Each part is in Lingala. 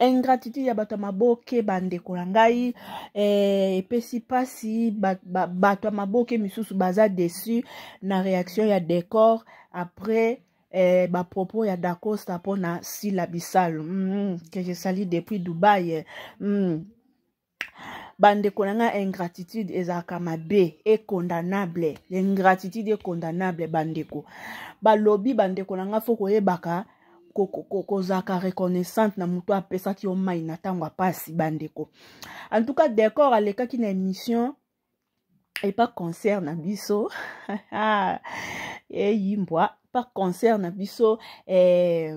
ingratitude ya bato ya maboke bandeko na ngai eh, epesi eh, mpasi bato ba, ba, ya maboke misusu baza deçu na réaction ya décor après eh, bapropos ya dacosta mpo na sila bisalu mm, que je sali depuis dubai eh. mm. bandeko na ngai ingratitude ezalaka mabe econdamnable ingratitude econdamnable bandeko balobi bandeko na ngai fo koyebaka kozalaka reconnaissante na moto apesaki yo mai na ntango ya mpasi bandeko en tout cas decor alekaki na émission epa concert na biso eyimbwa pa concert na biso eh,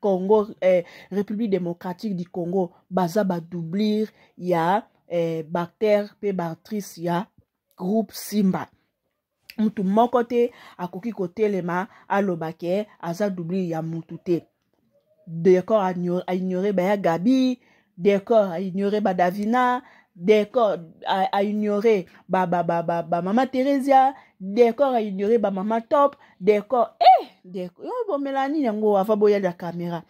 Congo eh, République démocratique du Congo baza ba doublir ya eh, bactère pe bactrice ya groupe Simba mutu moko te akoki kotelema aloba ke aza doublir ya mutu te decor a ignorer baya Gabi Decor a ignoré ba Davina, Decor a, a ignoré ba ba ba ba, ba Mama Theresia, Decor a ignoré ba Mama Top, Decor eh Decor yo bomela nini yango ava boya la caméra.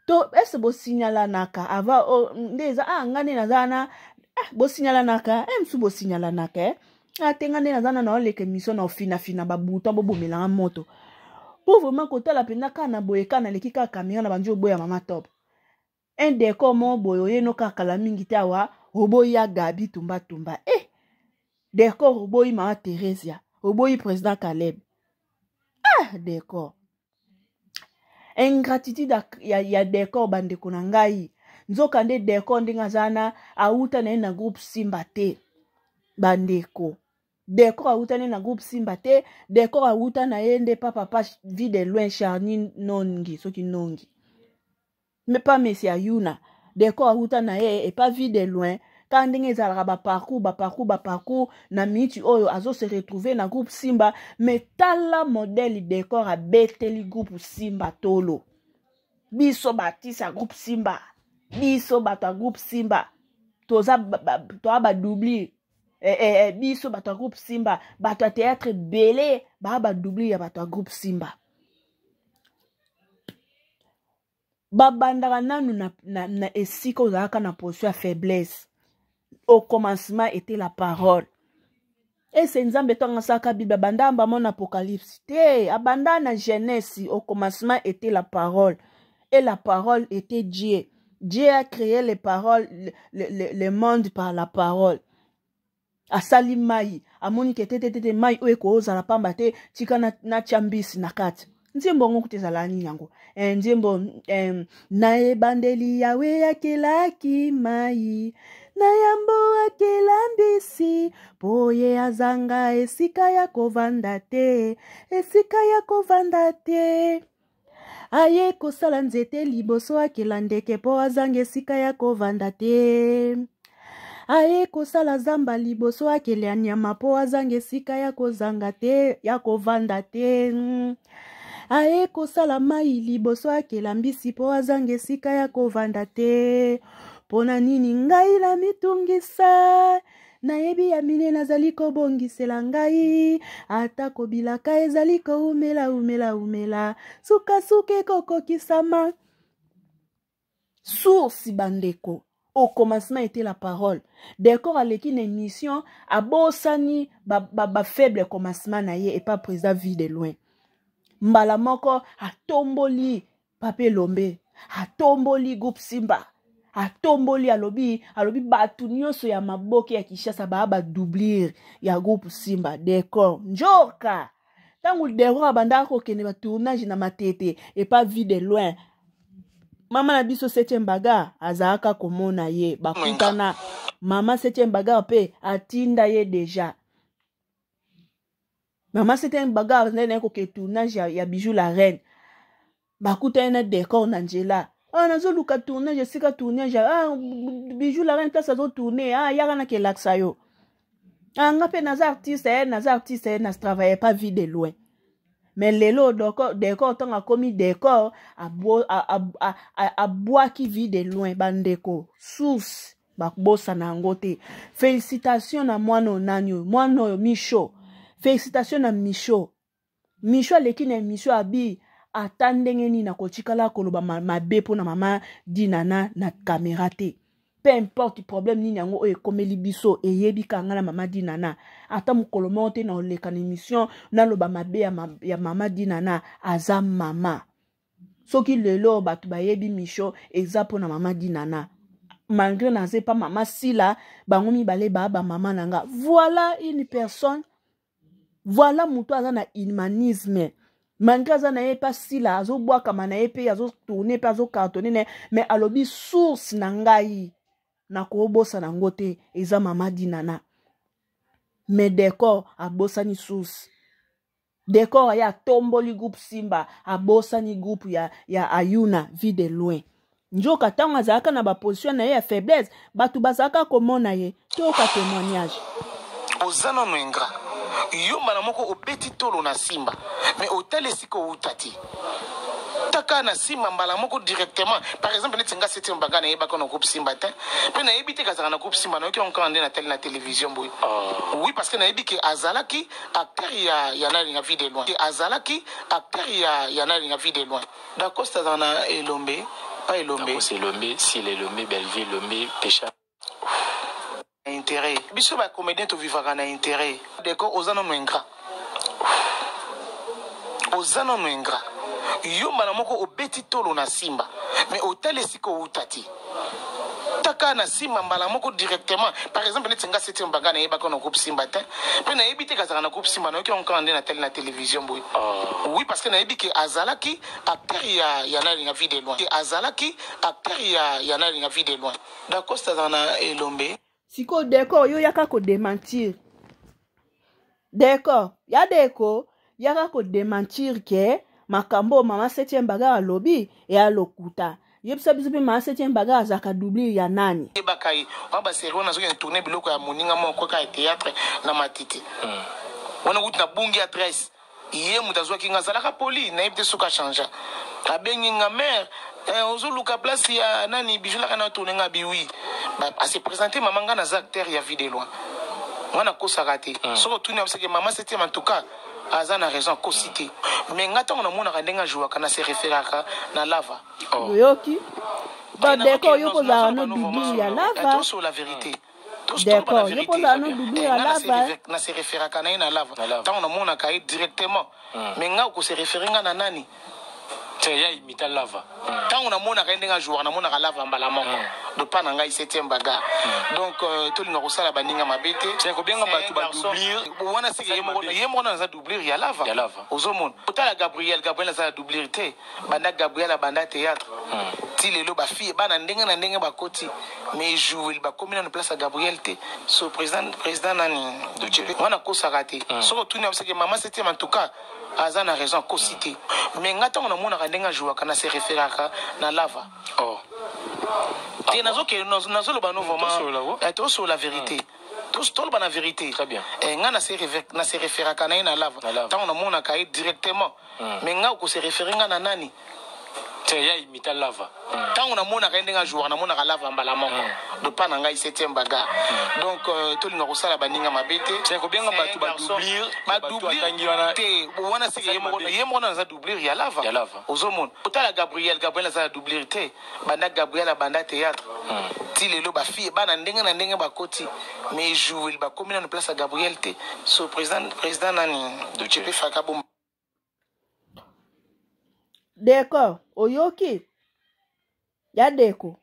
To est-ce bo signalanaka ava oh, nde eza ah ngane naza na ah, bo signalanaka eh msu bo signalanaka eh. Ah te ngane naza na na oleka émission na ofina fina ba bouton bo bomelanga moto. Po vraiment kotala pena kana boye kana leki ka caméra na banjo boya Mama Top. un decor mo boye oye no kaka kala mingi te awa oboyi ya gabi tumbatumba e eh, decor oboyi mama theresia oboyi président caleb ah decor ingratitude ya, ya decor bandeko na ngai nzoka nde decor ndenge aza na awuta na ye na groupe simba te bandeko decor awuta na ye na groupe simba te decor awuta na ye nde pa papa vie de loin charni nongi soki nongi mais pas messi ayuna deko awuta na ye et pas vie de loin kaka ndenge ezalaka baparcours baparcours baparcours na miniti oyo azo se retrouver na groupe simba mais tala modèle decor abeteli groupe simba tolo biso batisa groupe simba biso bato ya groupe simba toza toa badubli eh, eh, eh, biso bato ya groupe simba bato ya théâtre ebele baa badubli ya bato ya groupe simba babandaka nanu na, na, na esika ozalaka na position ya faiblesse au commencement était la parole ese nzambe to angasaka bible abanda mbamo na apocalypse te abanda na genèse au commencement était la parole et la parole était dieu dieu a créé les paroles le, le, le monde par la parole asali mai amoni ke tetetete mai oyo ekozala pamba te tika natya na mbisi na kati nzembo yango kuta ezala nini yango e, nzembo e, na ebandeli yawe akelaki mai na yambo akela mbisi mpo ye azanga esika ya kovanda te esika ya kovanda te aye kosala nzete liboso akela ndeke mpo azanga esika ya kovanda te aye kosala zamba liboso akela nyama mpo azanga esika ya kozanga te ya kovanda te aye kosala mai liboso akela mbisi mpo azanga esika ya kovanda te mpo na nini ngai namitungisa nayebi ya mine nazali kobongisela ngai atako bilaka ezali koumela umela umela sukasuka ekokokisama source bandeko au commencement était la parole decor aleki na émission abosani bafaible ba, ba commencement na ye epa président vie de loin mbala moko atomboli pape elombe atomboli groupe simba atomboli alobi alobi bato nyonso ya maboke ya kinshasa baa badoublir ya groupe simba decor njoka ntango decor abandaka kokende batournage na matete epa vie de loin mama na biso septième bagar azalaka komona ye bakutana mama septième bagar mpe atinda ye deja maman c'était un bagarre nde naye koke tournage ya, ya bijou la reine bakutani na décor na nzela ah nazoluka tournage esika tournage ah bijou la reine place azotourne ah yaka na kelakisa yo ah nga mpe naza artiste eh, naza artiste eh, na travaille pas vie de loin me lelo decor ntango akomi decor abwaki vie de loin bandeko source bakobosana yango te félicitation na mwana oyo nani oyo mwana oyo misho félicitation na misho misho aleki na emission abi ata ndenge nini akotikala koloba mabe mpo na mama dinana na kamera te peu importe problème nini yango oyo ekomeli biso eyebi kanga na mama dinana ata mokolo moko te na oleka na émission naloba mabe ya, ma, ya mama dinana aza mama soki lelo bato bayebi mission eza mpo na mama dinana malgré naza epa mama sila bango mibale baa bamama na nga voilà une personne voilà moto aza na humanisme malgré aza na ye epa sila azobwakama na ye mpe azotourne mpe azokartone na ye mais alobi source na ngai nakobosana yango te eza mama dinana mais decor abosani source Decor aye atomboli groupe Simba, abosani groupe ya, ya Ayuna, vie de loin. Njoka ntango azalaka na baposition na ye ya faiblesse, bato bazalaka komona ye. Toyoka témoignage. Oza nano ingra yo mbala moko obeti tolo na Simba, me otali esika owuta te kaka na simba mbala moko directement par exemple neti nga septième banga nayebaka na groupe simba te mpe nayebi te kazalaka na groupe simba nayoki yango kaka nde natali na télévision boye ah. oui parce que nayebi ke azalaki acteur ya ya nani na vie de loin azalaki acteur ya ya nani na vie de loin dacosta azala na elombe pa elombe dacosta elombe sila elombe bellevue elombe pecha na intérêt biso ba comédien tovivaka na intérêt deko oza nano ingrat oza nano ingrat yo mbala moko obeti tolo na simba me otali esika owuta te taka na simba mbala moko directement par exemple neti nga septième banga nayebaka na groupe simba te mpe nayebi te kazalaka na groupe simba nayoki yango kaka nde natali na télévision boye ah. oui parce que nayebi ke azalaki acteur ya ya nani ya vie de loin ke azalaki acteur ya ya nani ya vie de loin dacosta azala na elombe sikoyo decor yo yaka kodementir decor ya deko yaka kodementir ke makambo oyo mama septième bagar alobi eya lokuta yebisa biso mpe mama septième bagar azalaka doublure ya nani ebaka ye wana baserie wana azokende tourne biloko ya moninga moko kaka ya théâtre na matiti hmm. wana okuti na bungi adresse ye moto azwaki nga azalaka poli nayebi te soki achangea abengi nga mare eh, ozoluka place ya nani bijulaka na tourne nga biwi ase présente mama nga naza acteur ya vie de loi nga nakosaka te mm. soki otuni abiseke mama septième en tout cas aza na raison akosi te mm. mais nga ntango namonaka ndenge ajouaka na se référaka na lava oh. oyoki bandeko oyo kozala no bibi ya lava D'accord. Yo poza no dudu ya lava. Na se referaka na ye na lava. Tango na mona ka ye directement. Hmm. Mais nga ko se referer nga na nani? ya imita lava ntango namonaka ye ndenge ajouaka namonaka lava mbala moko hmm. dopa na ngai septième baga hmm. donc euh, tolinga kosala baninga mabe te kobenga bato badoublure wana seke ye moko na naza doublure ya lava ozomona otala gabriel gabriel aza ya doublure te banda gabriel abanda theatre ti lelo ba fille bana ndenge na ndenge bakoti mais jouer bakomi nanu place ya gabriel te so président président nani docepe wana akosaka te hmm. soki otuni abiseke mama septième en tout cas aza na raison akosi te mais nga ntango namonaka ndenge ajouaka na se référaka na lava oh. te ah nazokende nazoloba no vraiment eh, tosolola vérité hmm. toloba na vérité eh, nga na se référaka na ye na lava ntango namonaka ye directement mm. mais nga okose refere nga na nani te ya imita lava ntango mm. namonaka ye ndenge ajouaka namonaka lava mbala moko mm. dopa na ngai septième bagar mm. donc euh, tolinga kosala baninga mabe te kobenga bato badoublire badoublire te wana seke ye moko na naza doublire ya lava ozomona otala gabriel gabriel aza na doublire te banda Gabriel abanda theatre ti lelo ba fille bana ndenge na ndenge bakoti mais jouer bakomi na place ya Gabriel te so président président nani Doche pe faka bomba Deko oyoki ya Deko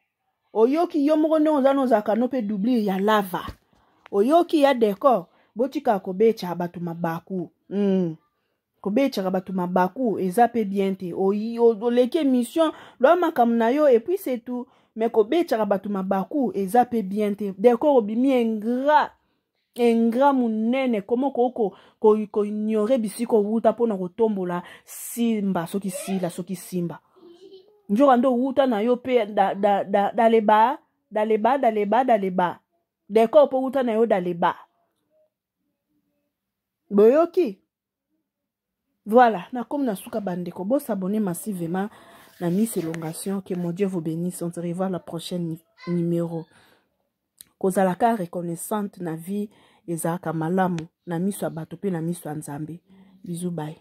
oyoki yo moko ndenge oza nozalaka no mpe doublure ya lava oyoki ya Deko botika kobetya bato mabaku mm. kobetaka bato mabaku eza mpe bien te oleki émission lwa makambo na yo epuis c'est tout mais kobetaka bato mabaku eza mpe bien te dekor obimi ingrat ingrat monene koma okoki koignore bisika owuta mpo na kotombola simba soki sila soki simba nzoka nde owuta na yo mpe daleba daleba daleba daleba dekor mpo owuta na yo daleba boyoki voilà nakomi na suka bandeko bosabone massivement na miss elongation que mon dieu vous bénisse on se revoit la prochaine numéro kozalaka reconnaissante na vie ezalaka malamu na miso ya bato mpe na miso ya nzambe bizu bai